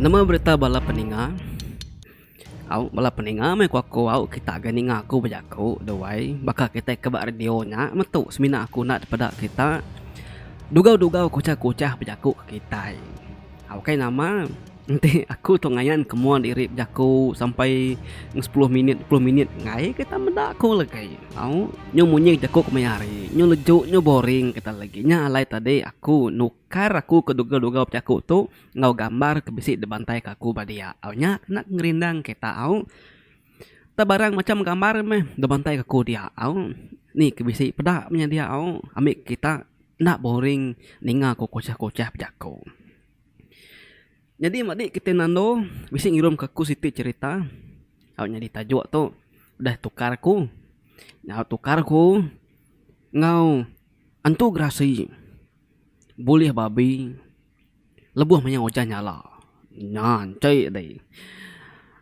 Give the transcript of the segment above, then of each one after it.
Nama berita bala peninga? Au bala peninga meh ku aku au kita ga ninga aku bejaku The Wai baka kitai ke ba radio nya metu semina aku enda dipeda kita dugau dugau kuchah kuchah bejaku ke kitai. Au kai nama. Enti aku tu ngayan ke mua diri bejaku sampai enggau sepuluh minit dua puluh minit enggai ke tan meda aku lagi tau nyu munyi jaku ku maya hari nyu leju nyu boring kita lagi nya alai tadi aku nukar aku ke duga-duga bejaku tu enggau gambar ke bisi dibantai ke aku ba dia au nya kena ngerindang kita au tau barang macam gambar meh dibantai ke aku dia au ni ke bisi peda menya dia au ami kita enda boring ninga ku kuchah-kuchah bejaku. Nyadi mba di kitai nando bisi ngirum ka aku siti cerita au nyadi tajuk tu udah tukar aku nyau tukar aku enggau antu gerasi bulih babi lebuh mayau ujan nyala nya enti deh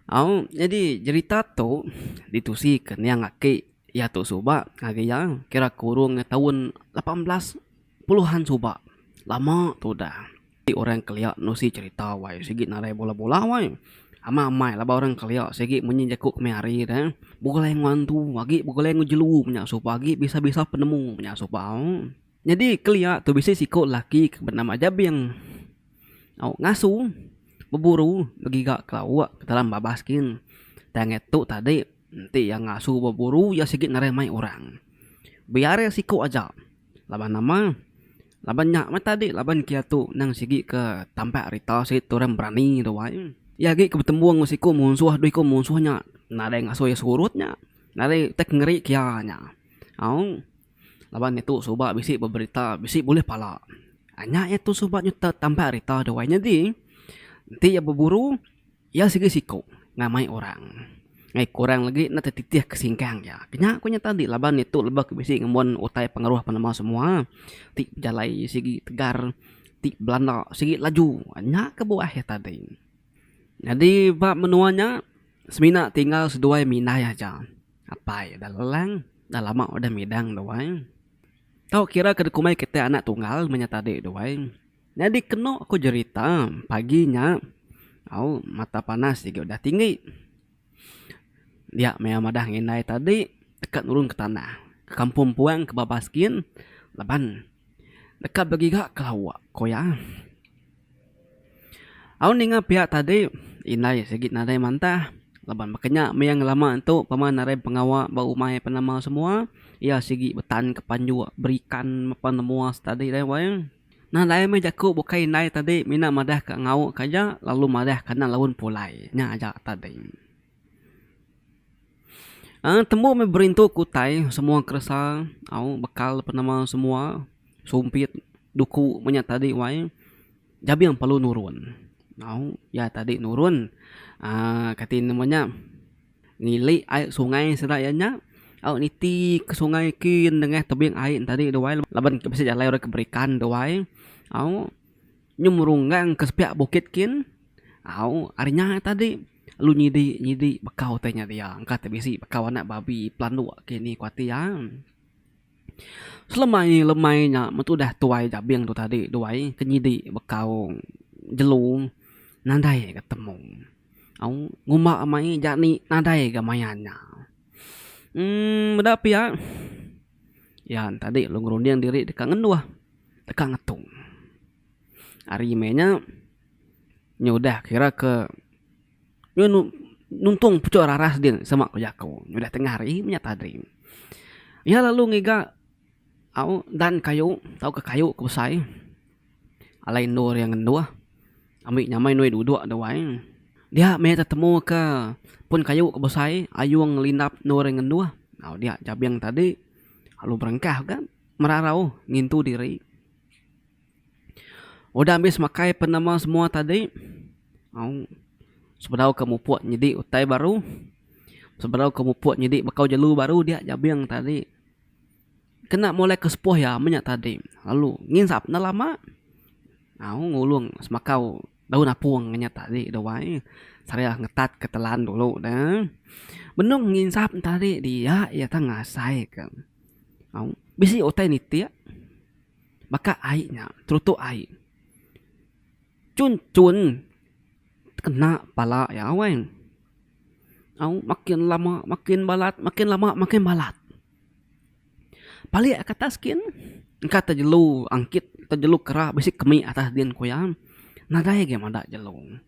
au nyadi jerita tu ditusi ka niang aki iya tu suba ngagai iya kira kurung taun lapan belas Puluhan suba lama tu udah ti orang kelia nusi cherita wai sigi narai bola bola wai. Amai amai laban orang kelia sigi munyi jaku kami hari dah begulai enggau antu agi begulai enggau jelu nya suba agi bisa bisa penemu nya suba nyadi kelia tu bisi siko laki ke benama Jabing au ngasu beburu begiga ke laok ke dalam babas gin tai ngetu tadi enti iya ngasu beburu iya sigi narai mai orang biar iya siko aja. Laban nama? Laban nya meh tadi laban kiatu endang sigi ke tampak rita siti tu orang berani tu ai. Iya agi ke betembung enggau siku munsuh dua iku munsuh nya nadai ngasuh iya surut nya. Nadai utai ke ngeri ke iya nya. Au laban iya tu suba bisi beberita bisi bulih pala. Nya iya tu suba nyuta tampak rita tu ai. Nyadi enti iya beburu. Iya sigi siku ngamai orang ngai kurang legi enda tetitih ke singkang iya. Ke nya ku iya tadi laban iya tu lebih ke bisi ngembuan utai pengaruh penemu semua ti bejalai sigi tegar ti belanda sigi laju. Nya ke buah iya tadi. Nyadi ba menua nya semina tinggal seduai minai aja. Apai dah lelang dah lama udah midang duai. Tau kira ke dikumbai kitai anak tunggal meh nya tadi duai. Nyadi keno ko jerita pagi nya au mata panas tige udah tinggi dia maya madah ngi indai tadi deka nurun ke tanah ke kampung puang ke babas gin laban deka begiga ke lawa ko iya. Au ninga pia tadi indai sigi nadai mantah laban baka nya maya ngelama tu pama nadai pengawa ba umai penama semua iya sigi betan ke panjok berikan mepa menua stadi dai wang. Nadai meh jaku bukai indai tadi mina madah ka ngauk ka aja lalu madah kana laun pulai. Nya aja tadi. Aaa tembu meh berintu ku utai semua keresa au bekal ape nama semua sumpit duku meh nya tadi wai jabing perlu nurun. Au iya tadi nurun aaa kati nama nya Ngilik ai sungai sida iya nya au niti ke sungai ki nengah tebing ai tadi tu wai laban ke bisi jalai orang ke berikan tu wai au nyemurunggang ke sepiak bukit kin au ari nya tadi lu nyidi nyidi bekau tai nya dia engka te bisi bekau anak babi pelanduk ke ni kuati iya. Selemai lemai nya metu udah tuai jabing tu tadi tu ai ke nyidi bekaung jelu nadai ga temu au ngumba mai ja ni nadai ga maya nya uhh meda pia iya tadi lu ngerunding diri deka ngenduh deka ngetung ari meh nya nya udah kira ke nuntung puchok raras din sema ku jaku udah tengah hari menyat hari. Iya lalu ngiga au dan kayu tauka kayu ke besai alai endur iya ngenduh ami nyamai andu iya dudok da wai dia meh tetemu ke pun kayu ke besai ayung ngelindap endur iya ngenduh au dia jabing tadi lalu berengkah ka merarau ngintu diri. Udah ambis makai penama semua tadi au sebedau ke mupuk nyidi utai baru sebedau ke mupuk nyidi bekau jelu baru dia jabing tadi kena molai ke sepuh iya menya tadi lalu nginsap enda lama au ngulung semakau daun apung inya tadi dak wai seraya ngetat ke telan dulu da benung nginsap tadi dia iya tan ngasai ke au bisi utai niti. baka ai nya terutuk ai chun chun kena pala iya weh au makin lama makin balat makin lama makin balat palik ka atas gin engka te jelu angkit te jelu kera bisi kemi atas din ku iya nadai agi meda jelu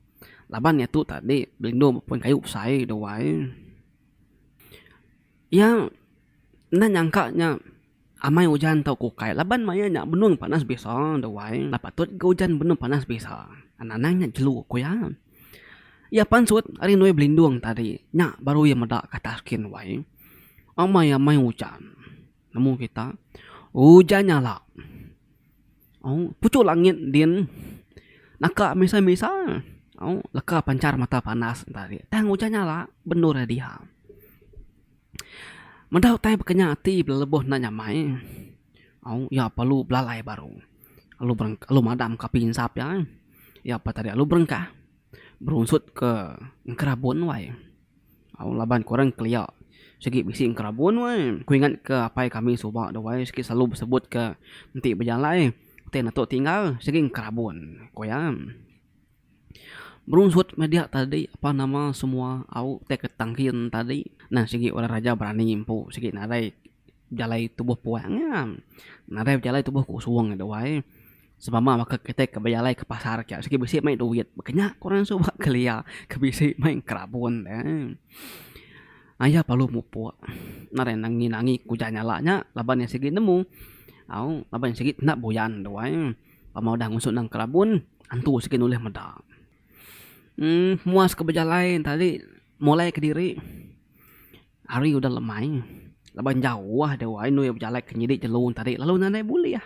laban iya tu tadi belindu ba pun kayu besai duai iya enda nyangka nya. Amai ujan tau ku ukai laban maya nya benung panas bisa da wai enda patut ga ujan benung panas bisa anang nya jelu ku iya. Iya pansut ari enda belindung tadi nya baru iya meda ke atas skin wai amai amai ujan nemu kita ujan nyala au puchuk langit din naka misa misa au leka panchar mata panas tang ujan nyala benur iya diha. Meda utai bekenya ati bala lebuh enda nyamai au iya perlu belalai baru lalu bereng lalu madam ka api insap iya ai. Iya pa tadi lalu berengkah berunsut ke enkerabun wai au laban ku orang kelia sigi bisi enkerabun wai. Ku ingat ke apai kami suba tu wai sigi selalu besebut ke enti bejalai ti netu tinggal sigi enkerabun ku iya. Berunsut meh dia tadi apan nama semua au ti ke tangkin tadi nah sigi orang raja berani empu sigi nadai bejalai tubuh puang nya nadai bejalai tubuh kusung nya dua ai sebama baka kitai ke bejalai ke pasar aja sigi bisi mei duit baka nya ku orang suba kelia ke bisi mei kerabun deh ai aya perlu mupuk nadai nangi nangi ku jalah nya laban iya sigi nemu au laban iya sigi enda buyan dua ai. Pama udah ngusuk endang kelabun, antu sigi nulih meda. Um muas ke bejalai enta ri molai kediri hari udah lemai laban jauh ah dewa inu iya bejalai ke nyidi jelu enta ri lalu nadai bulih.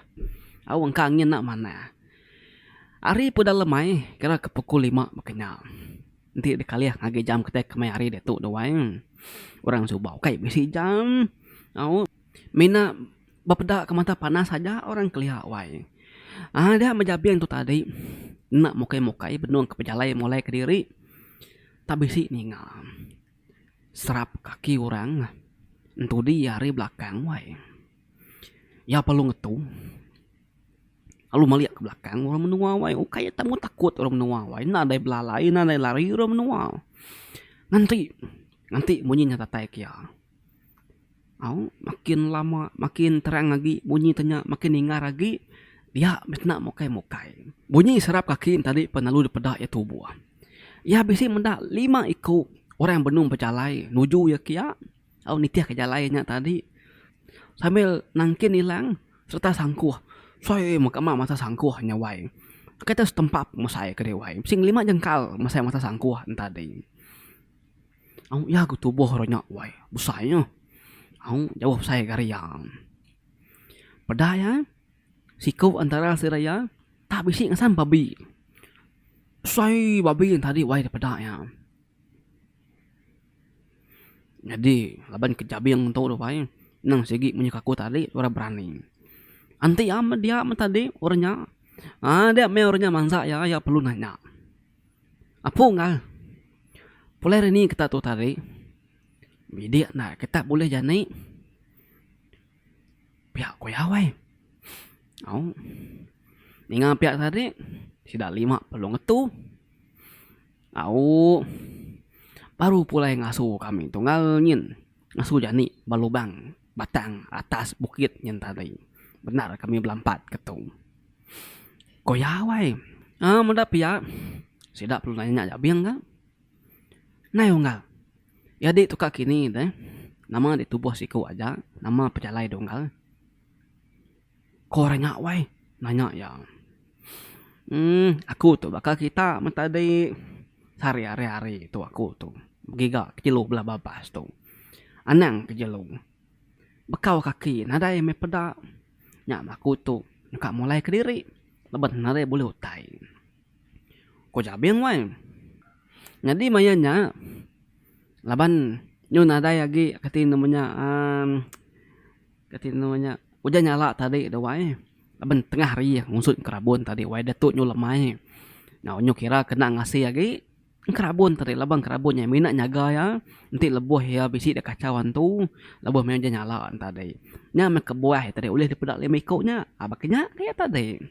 Au engka angin enda manah. Hari pun udah lemai kira ke pukul lima baka nya. Enti dikalih ngagai jam kitai ke meh hari ditu dawai orang suba ukai bisi jam au mina. Bepeda ke mata panas aja orang kelia wai. Aa dia meh jabing tu tadi enda mukai mukai benung ke pejalai mulai kediri tak bisi ninga serap kaki orang entudi ari belakang wai. Iya perlu ngetu lalu melik ke belakang orang menua wai ukai iya temu takut orang menua wai enda dai belalai enda dai lari orang menua nganti nganti munyi nya datai ke iya. Au makin lama makin terang agi bunyi te nya makin ningar agi dia bisina mukai mukai. Bunyi serap kaki ne tadi pelalu dipeda iya tuboh. Iya bisi meda lima iku orang benung bejalai nuju iya ke iya au nitih ke jalai iya nya tadi sambil nangkin ilang serta sangkuh soi mega ama masa sangkuh nya wai. Kita setempat mesai kadi wai bisi lima jengkal mesai masa sangkuh ne tadi. Au iya ku tubuh ro nya wai besai nya. Au jauh besai ari iya. Peda iya siku antara sida iya tak bisi ngasang babi. Besai babi nya tadi wai da peda iya. Nyadi laban ke jabing tu dak wai nang sigi munyi ke aku tadi orang berani. Enti iya meh dia meh tadi orang nya aaa dia meh orang nya mansa iya, iya perlu nanya. Apung ka. Pulai rani kita tu tadi bidik enda kita bulih jani piak kuyau ai. Au ninga piak tadi sida lima pelu ngetu au baru pulai ngasu kami tunggal nyin. Ngasu jani ba lubang batang atas bukit nyen tadi. Bendar kami belampat ke tu. Ko Yawai, Aa meda pia. Sida perlu nanya nya abing ka. Nai unggal. Nyadi tu ka kini deh. Nama ditubuh siku aja. Nama pejalai dunggal. Ko rengak wai nanya iya. Emm aku tu baka kita men tadi sehari hari tu aku tu begiga ke jelu bala babas tu anang ke jelu bekau kaki nadai meh peda nya men aku tu ka mulai kediri leban nadai bulih utai. Ko Jabing wai nyadi maya nya laban nyau nadai agi kati nemu nya emm. Kati anu nya ujan nyala tadi tu wai laban tengah hari ngusut kerabon tadi wai datu nyu lemai nyau nyu kira kena ngasih agi kerabon tadi laban kerabon nya mina nyaga iya enti lebuh iya bisi da kachau antu lebuh meh ujan nyala tadi nya meh kebuah tadi ulih dipeda lima iku nya baka nya ke tadi.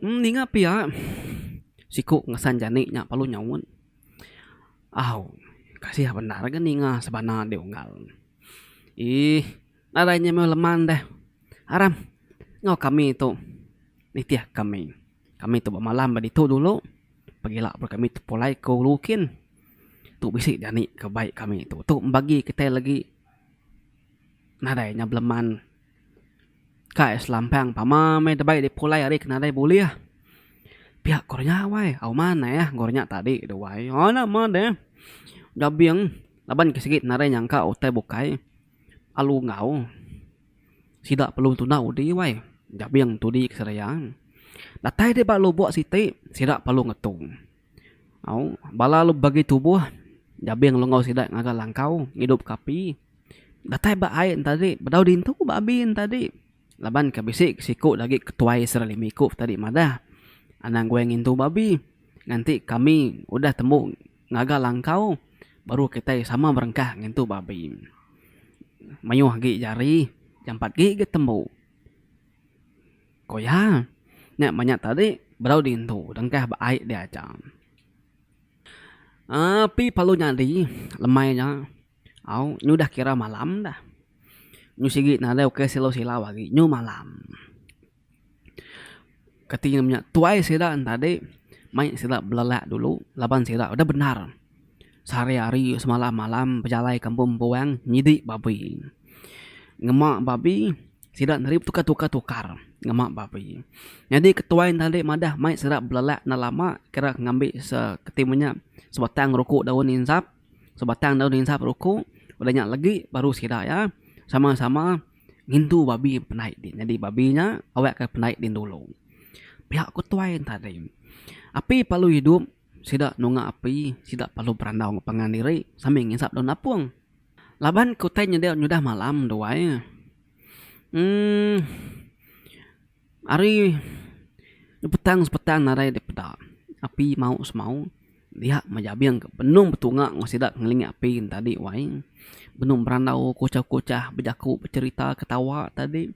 Ninga pia siku ngesan jani nya perlu nyaut. Au kasih bendar ga ninga sebana ande unggal. Eeh nadai inya meh leman deh aram enggau kami tu nitih kami. Kami tu bemalam ba ditu dulu pegila baru kami tepulai ke ulu kin. Tu bisi jani ke bai kami tu. Tu bagi kitai lagi nadai inya beleman. Kai selampang pama meh debei dipulai ari ke nadai bulih. Pia ko renya wai. Au manah eh ko renya tadi tu wai. Au enda meh deh. Udah abing laban ke sigi nadai nyangka utai bukai alu enggau. Sida perlu tunda udi wai. Udah abing tudi ke seraya. Datai deh ba lubok siti sida perlu ngetung. Au, bala lu bagi tubuh jabing lenggau sida ngaga langkau ngidup ka api datai ba ai enta agi bedau dintu ba abi enta agi laban ke bisi siku da agi ketuai serelimi ku tadi madah anang guai ngintu ba abi nganti kami udah tembu ngaga langkau baru kitai sama berengkah ngintu ba abi mayuh agi jari jampat agi ke tembu. Ko iya, Nya banyak tadi berau diintu dengkah ba ai dia aja. Api perlu nyadi lemai nya au nyu udah kira malam dah. Nyu sigi nadai ukai silau-silau agi nyu malam. Kati inya menya tuai sida ne tadi mai sida belelak dulu laban sida udah bendar sehari hari semalam malam bejalai kampung empu wang nyidi babi. Ngema babi. Sida neri betukar-tukar-tukar ngema ba pi. Nyadi ketuai enda ulih madah mai sida belelak enda lama kira ngambi se keti imu nya sebatang ruku daun insap sebatang daun insap ruku udah nya legi baru sida iya sama-sama ngintu babi penai di nyadi babi nya awakka penai di dulu. Pia ku tuai enta ding. Api perlu idup. Sida nunga api, sida perlu berandau enggau pangan diri sambil ngisap daun apung. Laban ke utai nyadi nyudah malam duai. Emm ari petang sepetang nadai dep peda api mau semau dia mah jabing ke benung betunga enggau sida ngelingi api tadi wai. Benung berandau kuchah kuchah bejaku becerita ketawa tadi.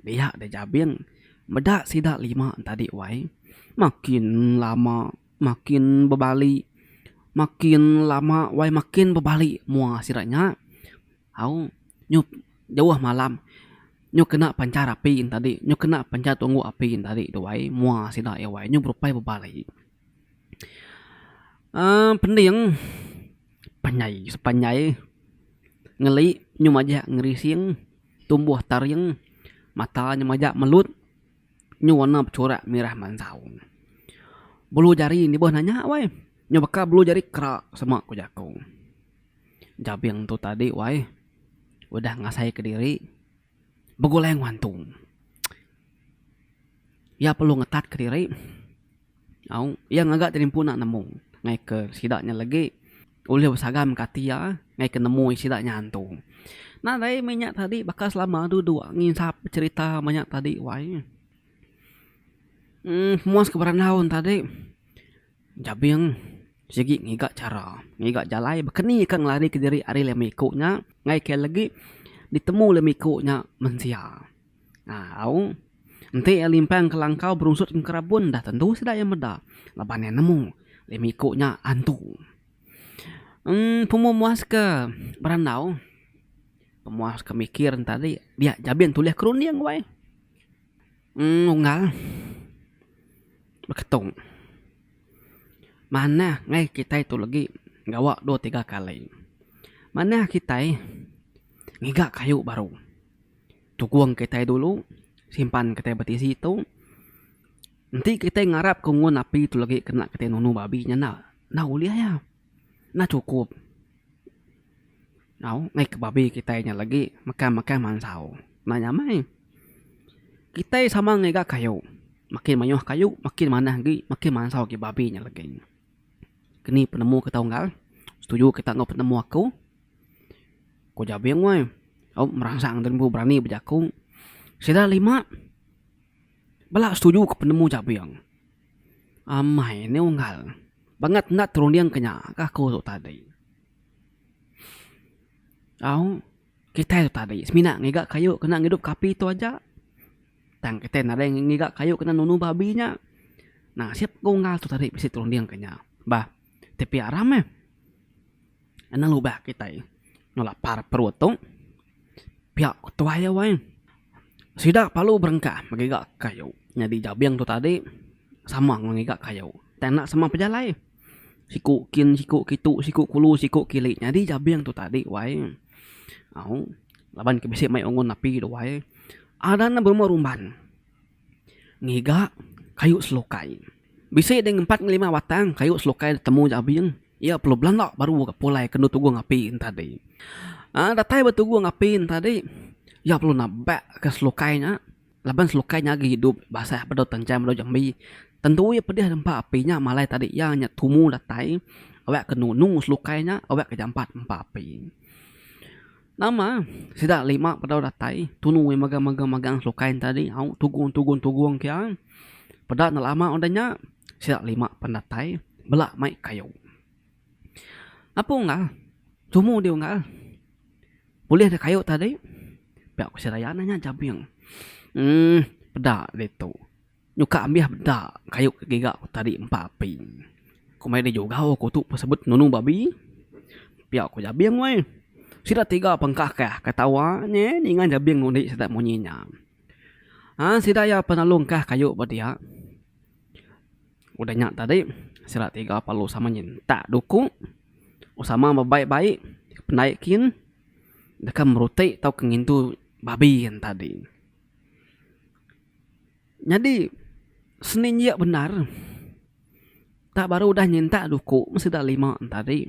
Dia deh Jabing, meda sida lima entadi wai makin lama makin bebali makin lama wai makin bebali mua sida nya au nyu jauh malam nyu kena panchar api entadi nyu kena panchar tunggu api entadi tu wai mua sida iya wai nyu berupai bebali uhh pending panjai sepanjai ngeli nyu majak ngerising. Tumbuh taring mata nya majak melut nyu warna bechurak mirah manjau. Bulu jari nibuh nanya wai nyu baka bulu jari kera sema ku jaku. Jabing tu tadi wai udah ngasai ke diri begulai ngewantu. Iya perlu ngetat ke diri. Au, iya ngaga tadi empu enda nemu ngaika sida nya lagi ulih besagan mega ati iya ngaika nemu sida nya antu. Nadai meh inya tadi baka selama adu dua nginsap becerita meh inya tadi wai. uhh muas ke berandau ne tadi jabing sigi ngiga chara ngiga jalai bekenike ngelarike diri ari lemiku nya ngaika lagi ditemu lemiku nya mensia. Au. Enti iya limpang ke langkau berunsut ngerabun dah tentu sida iya meda laban iya nemu lima iku nya antu. Em pemua muaska berandau pemuaska mikir ne tadi dia jabin tulih kerunding wai em unggal beketung manah ngai kitai tu legi gawa dua tiga kali manah kitai ngiga kayu baru. Tukung kitai dulu simpan kitai betisi tu enti kitai ngarap ke umon api tu lagi kena kitai nunu babi nya enda enda ulih iya enda chukup tau meh ke babi kitai nya lagi mekai mekai mansau enda nya meh kitai sama ngiga kayu makin mayuh kayu makin manah agi makin mansau agi babi nya lagi. Keni penemu ke tau enggal? Setuju kita enggau penemu aku? Ku Jabing weh. Au meransang tu empu berani bejaku. Sida lima bela setuju ke penemu Jabing. Amai nih unggal. Bangat enda terundingka nya ka aku tu tadi. Au. Kitai tu tadi semina ngiga kayu kena ngidup ka api tu aja. Tang kitai nadai ngiga kayu kena nunu babi nya. Nasib ku unggal tu tadi bisi turunding ke nya. Bah, tipi aram eh. Anang lubah kitai enu lapar perut tu. Pia ku tuai iya weh. Sida perlu berengkah ngiga kayu. Nyadi jabing tu tadi sama enggau ngiga kayu. Tang enda sama pejalai. Siku kin siku kitu siku kulu siku kili nyadi jabing tu tadi wai au laban ke bisi mai ungun api tu wai ada ne berumah rumban ngiga kayu selukai bisi deh empat nge lima batang kayu selukai temu jabing iya perlu belanda baru ke pulai kendu tugu api nya tadi aaa datai ba tugu api nya tadi iya perlu nebak ka selukai nya. Laban selukai nya agi idup basah bedau tenjam bedau jambi, tentu iya pedih nempa api nya malai tadi iya nya tumu datai awak ke nunu selukai nya awak ke jampat nempa api. Nama sida lima bedau datai tunu iya megang megang megang selukai nya tadi au tugung tugung tugung ke iya. Peda enda lama udah nya sida lima pen datai bela mai kayu. Apung ga tumu dih unggal. Ulih deh kayu tadi pia ku seraya ne nya jabing uhh peda ditu nyuka ambih peda kayu ke giga ku tadi empa api ku mayuh da jugau ku tu pun sebut nunu babi pia ku jabing weh sida tiga pangkah ka ka tawa nye ninga jabing ngundi sida munyi nya uhh sida iya pengalu engkah kayu ba dia. Udah nya tadi sila tiga parlu sama nyentak duku sama bebaik-baik pendai kin deka merutik tauka ngintu babi yen tadi. Nyadi seni injia bendar tak baru udah nyentak duku mesti udah lima tadi.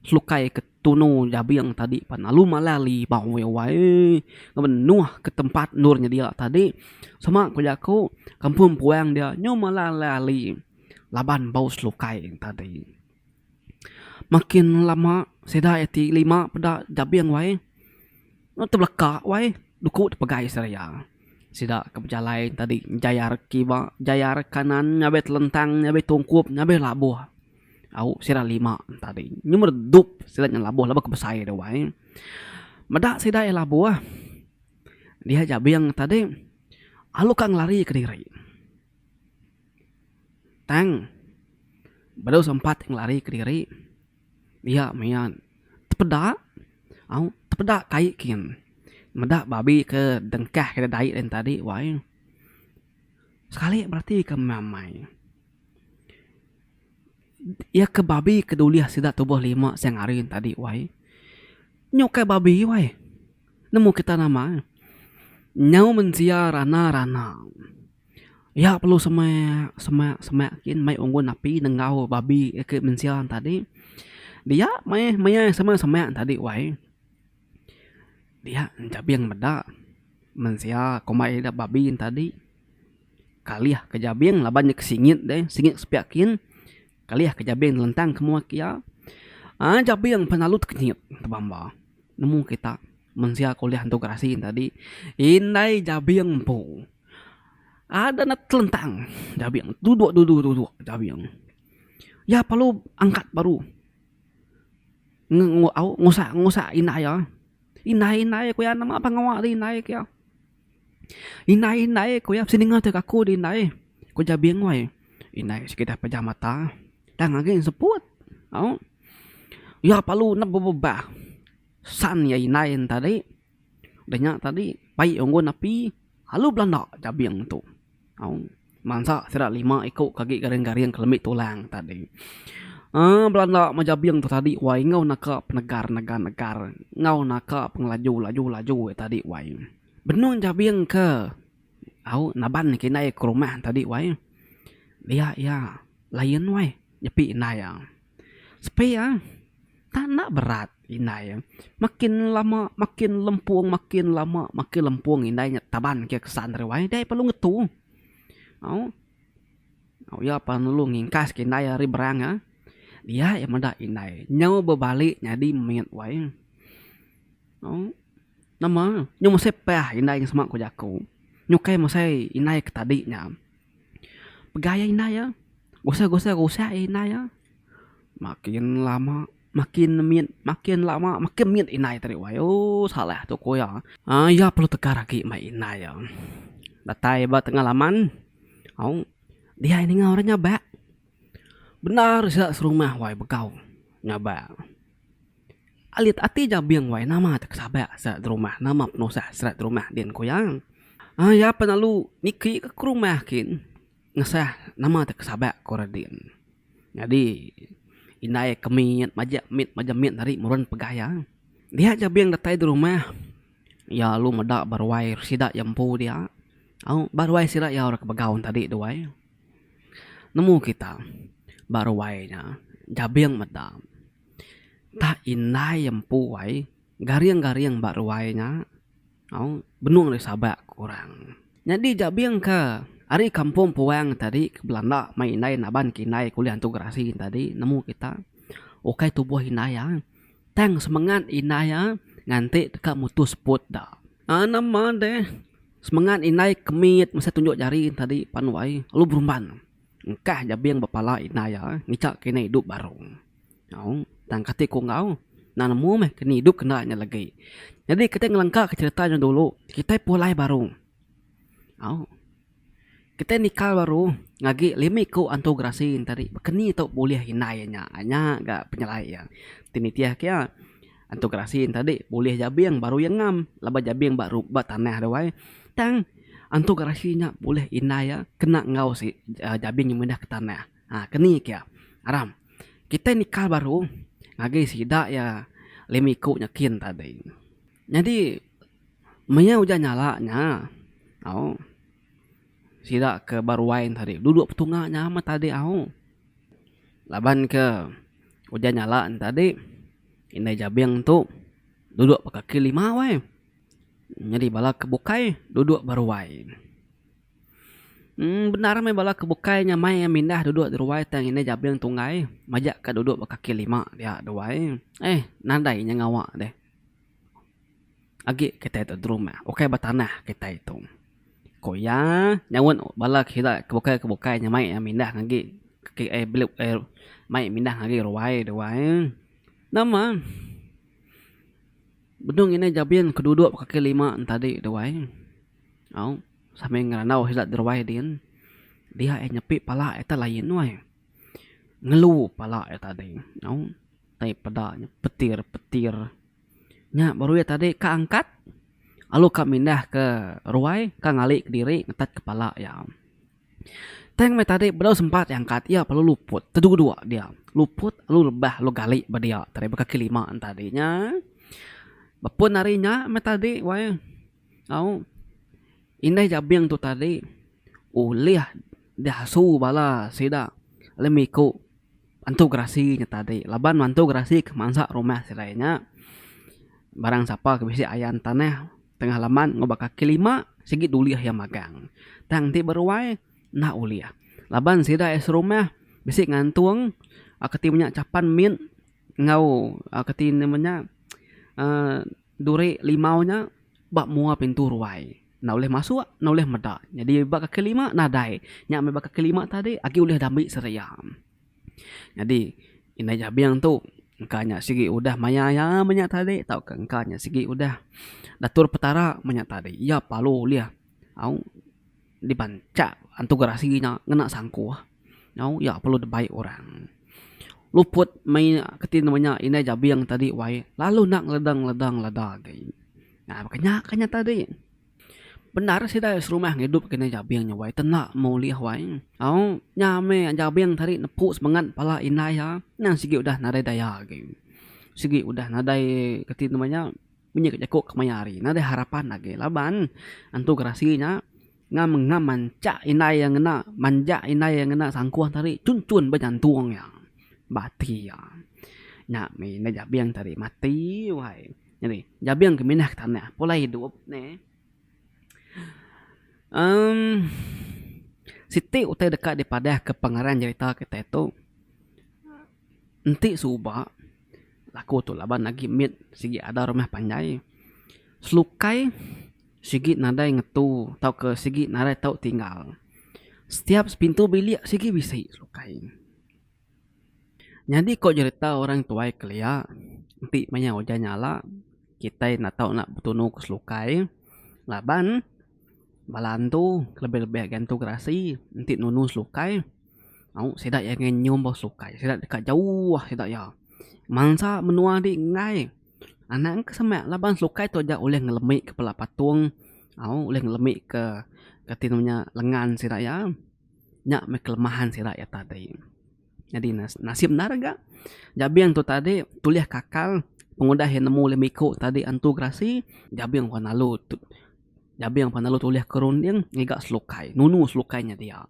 Selukai ke tunu jabing tadi pan lalu malai ali bau iya wai eeh ngeban nuh ke tempat endur nya dia tadi sama ku jaku kampung puang dia nyu malai alai ali laban bau selukai nya tadi. Makin lama sida iya ti lima peda jabing wai nuh tebelaka wai duku tepegai seraya sida ke bejalai tadi jair kiba jair kanan ngabai telentang ngabai tungkup ngabai labuh. Au sida lima tadi nyuh redup sida nyau labuh labuh ke besai dau ai. Meda sida iya labuh diah jabing tadi alu ka ngelari kediri tang baru sempat ngelari kediri iya maya tepeda au tepeda kai kin meda babi ke dengkah ke dai tadi wai sekali bereti ke meh amai. Iya ke babi ke dulih sida tubuh lima siang hari enti tadi wai. Nya ukai babi wai. Nemu kita nama ne. Nyau mensia rana rana. Iya perlu semak semak semak gin mai unggun api nenggau babi ke mensia tadi. Dia maya maya semak semak tadi wai. Dia jabing meda mensia kombai ida babi tadi kalih ke jabing laban iya ke singit deh singit sepiak kin kalih ke jabing lentang ke muak iya aaa jabing pengalu tekit tebamba nemu kita mensia ke ulih entu gerasi tadi indai jabing empu ada ne telentang jabing duduk duduk duduk jabing iya perlu angkat baru. ngusak ngusak indai iya. Indai indai ku iya nama pang ngawa di indai ku iya. Indai indai ku iya mesti ninga tega aku di indai ku ja bingoi indai sekeda pejam mata tang agi ne seput au iya perlu nemu ba san iya indai ne tadi. Udah nya tadi pai unggun api lalu belanda jabing tu au mansa sida lima iku ke agi garing-garing ke lemi tulang tadi uhh belanda meh jabing tu tadi wai enggau naka penegar negar negar enggau naka pengelaju laju laju wai tadi wai benung jabing ke au naban ke indai ke rumah tadi wai dia iya lain wai nyepi indai iya. Sepi ah tak enda berat indai eh makin lama makin lempung makin lama makin lempung indai nya taban ke kesan ari wai dei perlu ngetu au au iya pan lalu ngingkas ke indai ari berang ah dia iya meda indai nyau bebali nyadi mit wai au nama nyau mesai pah indai sema ku jaku nyu kai mesai indai ke tadi nya. Pegai iya indai iya. Gosai-gosai rusak iya indai iya. Makin lama makin mit, makin lama makin mit indai tadi wai. Ooh salah tu ku iya. Aaa iya perlu tegar agi meh indai iya. Datai ba tengah laman, au, dia iya ninga orang nyabak. Bendar sida serumah wai begau nyabak. Alit ati jabing wai nama te kesabak serat rumah nama penusah serat rumah din ku iya. Ai iya pun lalu niki ke rumah kin ngesah nama te kesabak ku re din. Nyadi indai ke mit majak mit majak mit ari muren pegah iya. Dia jabing datai di rumah iya lalu meda ba ruai sida iya empu dia au ba ruai sida iya ora ke begau tadi duai. Nemu kita ba ruai nya jabing meda entah indai empu ai garing garing ba ruai nya au benung deh sabak ku orang. Nyadi jabing ke ari kampung puang tadi ke belanda mai indai naban ke indai ke ulih antu gerasi tadi nemu kita ukai tubuh indai iya tang semengat indai iya nganti deka mutus put da. Aaa nama deh. Semengat indai ke mit mesti tunjuk jari tadi pan wai lalu berumban engkah jabing ba pala indai iya ngichak ke indai idup baru. Au tang kati ku enggau enda nemu meh ke ni idup ke enda nya legi. Nyadi kitai ngelengka ke cherita nya dulu kitai pulai baru. Au. Kitai nikal baru ngagi lima iku antu gerasi entari bekeni tu bulih indai iya nya. Nya ga penyelai iya. Ti nitihka iya, antu gerasi entari bulih jabing baru iya ngam laban jabing ba ru ba tanah tu ai. Tang antu gerasi nya bulih indai iya kena enggau si jabing yang mindah ke tanah. Ha keni ke iya. Aram kitai nikal baru ngagai sida iya lima iku nya kin tadi. Nyadi maya ujan nyala nya, au. Sida ke ba ruai tadi duduk petunga nya amat tadi au. Laban ke ujan nyala ne tadi indai jabing tu duduk ba kaki lima weh nyadi bala ke bukai duduk ba ruai. uhh bendar meh bala ke bukai nya meh iya mindah duduk ba ruai tang indai jabing tunggai majak ka duduk ba kaki lima dia duai. Eih nadai inya ngawa deh. Agi kitai tu derumah ukai ba tanah kitai tu. Ku iya, nyauan bala ke sida ke bukai ke bukai nya mai mindah ngagai mai mindah ngagai ruai duai. Nama benung inai jabin ke duduk ba kaki lima ne tadi duai au sambil ngerandau sida ti ruai din. Dia nyepi pala ita lain uai. ngelu pala iya tadi nyau tai peda nya petir petir nya baru iya tadi ka angkat lalu ka mindah ke ruai ka ngali kediri ngetat ke pala iya. Tang meh tadi bedau sempat iya angkat iya perlu luput tedu dua dia luput lalu rebah lalu gali ba dia tadi ba kaki lima tadi nya. Ba pun ari nya meh tadi wayah. Au, indai Jabing tu tadi ulih diasu bala sida lemiku bantu gerasi nya tadi laban bantu gerasi ke mansa rumah sida nya barang sapa ke bisi ayan tanah tengah laman ngubah kaki lima sigi dulih iya magang tang ti beruai enda ulih laban sida iya serumah bisi ngantung ke ti menya chapan min enggau ke ti menya aaa. Duri limau nya ba mua pintu ruai enda ulih masuk enda ulih meda nyadi ba kaki lima nadai nya meh ba kaki lima tadi agi ulih dambi seria. Nyadi indai jabing tu engka nya sigi udah maya iya meh nya tadi tauka engka nya sigi udah datur petara meh nya tadi iya parlu ulih au. Dibanchak antu gerasi nya ngena sangkuh nyau iya perlu dibai orang. Luput mei keti nama nya indai jabing tadi wai lalu enda ngeleda ngeleda ngeleda agi. Nah baka nya ka nya tadi. Bendar sida serumah ngidup ke indai jabing nya wai tenda meh ulih wai au nya meh jabing tadi nepu semengat pala indai iya endang sigi udah nadai daya agi. Sigi udah nadai keti nama nya. Menyuai ka jaku kemaya hari nya deh harapan agi laban antu gerasi nya ngam ngam manchak indai iya ngena manjak indai iya ngena sangkuh tadi chun chun ba nyantung iya ba ati iya. Nya meh indai jabing tadi mati wai nyadi jabing ke minah ke tanah pulai idup neh emm siti utai deka dipadah ke pengarang jerita kitai tu. Enti suba laku tu laban agi mit sigi ada rumah panjai selukai sigi nadai ngetu tau ke sigi nadai tau tinggal setiap sepintu bilik sigi bisi selukai. Nyadi ko jerita orang tuai kelia enti maya ujan nyala kitai enda tau nak betunu ke selukai laban bala antu kelebih lebih agi antu gerasi enti nunu selukai. Au sida iya ngagai nyium bau sukai sida deka jauh sida iya. Mansa menua ti enggai anang ke semak laban sukai tu aja ulih ngelemi kepala patung au ulih ngelemi ke ke ti nama nya lengan sida iya. Nya meh kelemahan sida iya tadi. Nyadi ne nasib endar ga jabing tu tadi tulih ke akal pengudah iya nemu lem iku tadi antu gerasi jabing lalu. Jabing pan lalu tulih ke runding ngiga selukai nunu selukai nya dia.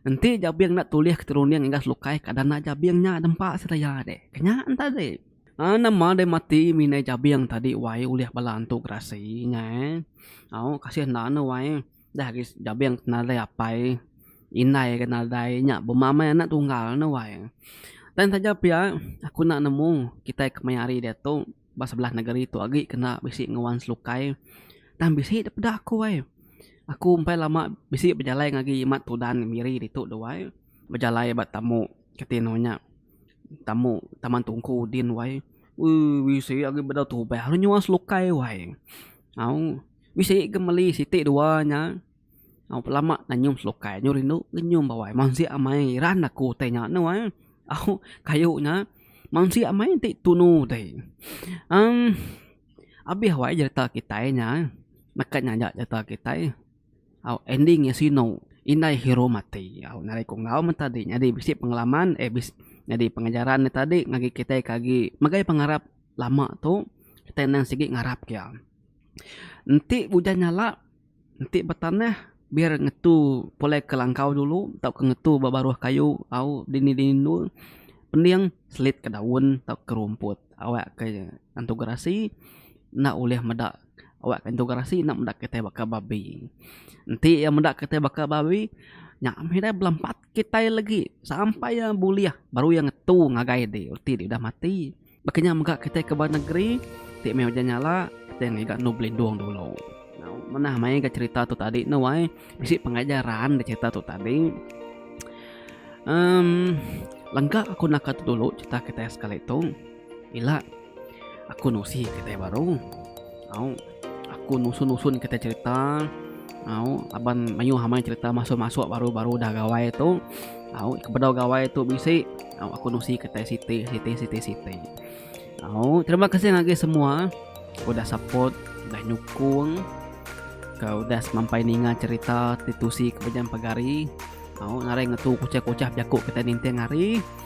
Enti jabing enda tulih ke runding ngiga selukai kada enda jabing nya dempa sedia deh. Ke nya en tadi. Aa nama deh mati minai jabing tadi wai ulih bala antu gerasi nya eh. Au kasih enda ne wai dah agi jabing ti nadai apai indai ke nadai nya bema meh anak tunggal ne wai. Tang taja pia aku enda nemu kitai kemaya hari diatu. ba sebelah negeri tu agi kena bisi nguan selukai tang bisi depeda aku ai. Aku empai lama bisi bejalai ngagi imat tudan miri ditu dau ai. Bejalai ba tamu kitai anu nya tamu taman tungku din wai ui bisi agi bedau tubah lalu nyuan selukai wai au bisi ga meli siti dua nya. Au pelama na nyum selukai nyu rindu ngenyum bawai mensia amai iran aku utai nya anu ai au kayu nya mensia amai enti tunu utai em abih wai jereta kitai nya neka nya aja jereta kitai au ending nya sinu indai hero mati au ngagai ku enggau meh tadi nyadi bisi pengalaman eh bisi nyadi pengajaran meh tadi ngagai kitai ke agi megai pengarap lama tu kitai endang sigi ngarap ke iya enti ujan nyala Enti betanah biar ngetu pulai ke langkau dulu tauka ngetu ba baruh kayu au dini dini andu pending selit ka daun tauka rumput awak ka iya antu gerasi enda ulih meda awak ka antu gerasi enda meda kitai baka babi enti iya meda kitai baka babi nya mih ida belampat kitai lagi sampai iya bulih baru iya ngetu ngagai diri reti dek ida mati. Baka nya mega kitai ke ba negeri ti meh ujan nyala kitai ngiga endu belindung dulu. Manah mai ga cerita tu tadi anu ai bisi pengajaran ga cerita tu tadi emm lengka aku naka tu dulu cerita kitai sekali tu ila aku nusi kitai baru au. Aku nusun-nusun kita cerita. Au, laban mayuh amai cerita masuk-masuk baru-baru dah gawai tu. Au, kebedau gawai tu bisi. Au, aku nusi kita siti, siti, siti, siti. Au, terima kasih ngagai semua udah support, udah nyukung. Kau udah semampai ninga cerita titusi ke Bejam Pagari. Au, ngarai ngetu kuchah-kuchah bejaku kita ninting hari.